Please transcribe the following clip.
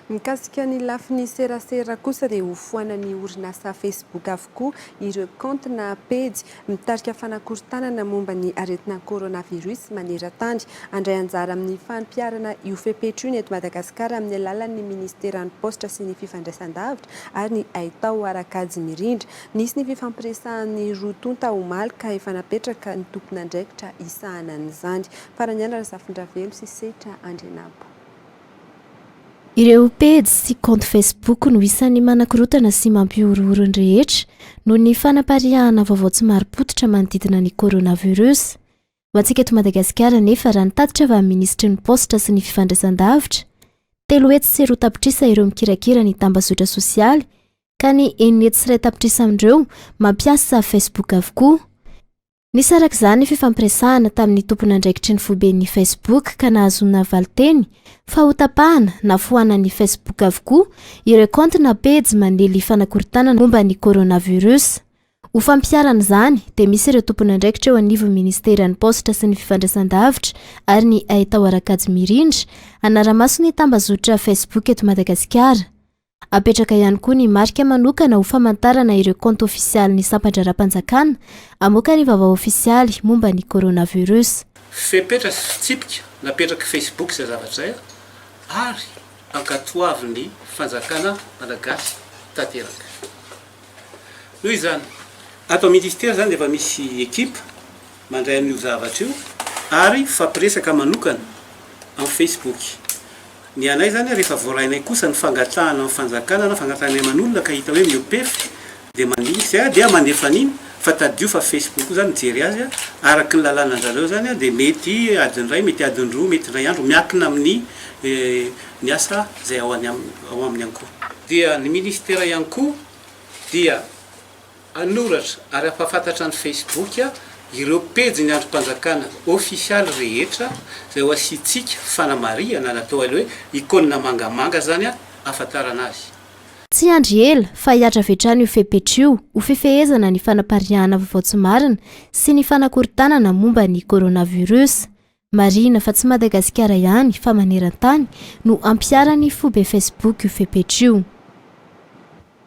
Mikasika ny lafiny serasera kosa dia hofoanan'ny orinasa Facebook avokoa ireo kaonty na pejy mitarika fanakorontanana momba ny aretina coronavirus maneran-tany, handray anjara amin'ny fampiharana io fepetra io ny eto Madagasikara amin'ny alalan'ny Ministeran'ny Paositra sy ny Fifandraisandavitra ary ny Haitao Harakajy Mirindra. Nisy ny fifampiresahan'ny roa tonta omaly ka efa napetraka ny tompon'andraikitra hisahana an'izany, Faraniala Razafindravelo sy Setra Andrianabo. Ireo pejy sy kaonty Facebook no isan'ny manakorontana sy mampihorohoro ny rehetra noho ny fanapariahana vaovao tsy marim-pototra manodidina ny coronavirus. Ho antsika eto Madagasikara anefa, raha ny tatitra avy amin'ny minisitry ny Paositra sy ny fifandraisan-davitra, telo hetsy sy roa tapitrisa ireo mikirakira ny tambazotra sosialy ka ny enina hetsy sy iray tapitrisa amin'ireo mampiasa Facebook avokoa. Nisy araka izany ny fifampiresahana tamin'ny tompon'andraikitry ny foiben'ny Facebook ka nahazoana valinteny fa hotapahana na foanan'ny Facebook avokoa ireo kaonty na pejy manely fanakorontanana momba ny coronavirus. Ho fampiharana izany dia misy ireo tompon'andraikitra eo anivon'ny Ministeran'ny Paositra sy ny Fifandraisandavitra ary ny Haitao Arakajy Mirindra hanara-maso ny tambazotra Facebook eto Madagasikara. Apetraka ihany koa ny marika manokana ho famantarana ireo kaonty ofisialin'ny sampan-draharaham-panjakana hamoaka ny vaovao ofisialy momba ny coronavirus. Fepetra sy fitsipika napetrak'i Facebook izay zavatra izay ary ankatoavin'ny fanjakana malagasy tanteraka. Noho izany. Ato amin'ny Ministera izany dia efa misy ekipa. mandray an'io zavatra io ary mifampiresaka manokana amin'ny Facebook. Ny anay zany rehefa voarainay kosa ny fangatahana amin'ny fanjakana na fangatahana ny aman'olona ka hita hoe miopefy dia mandinika izay aho dia mandefa an'iny fa tadidio fa Facebook io zany mijery azy araky ny lalànan'zareo zany dia mety adiny iray mety adiny roa mety indray andro miakina amin'ny ny asa izay ao any aminy ao aminy ihany koa. Dia ny ministera ihany koa dia. Hanoratra ary hampahafantatra ny Facebook ireo pejin'ny andrim-panjakana ofisialy rehetra izay ho asiantsika fanamarihana na atao hoe icône mangamanga izany ahafantarana azy. Tsy hiandry ela fa hihatra avy hatrany io fepetra io ho fifehezana ny fanapariahana vaovao tsy marina sy ny fanakorontanana momba ny coronavirus. Marihina fa tsy Madagasikara ihany fa maneran-tany no hampiharan'ny foibe Facebook io fepetra io.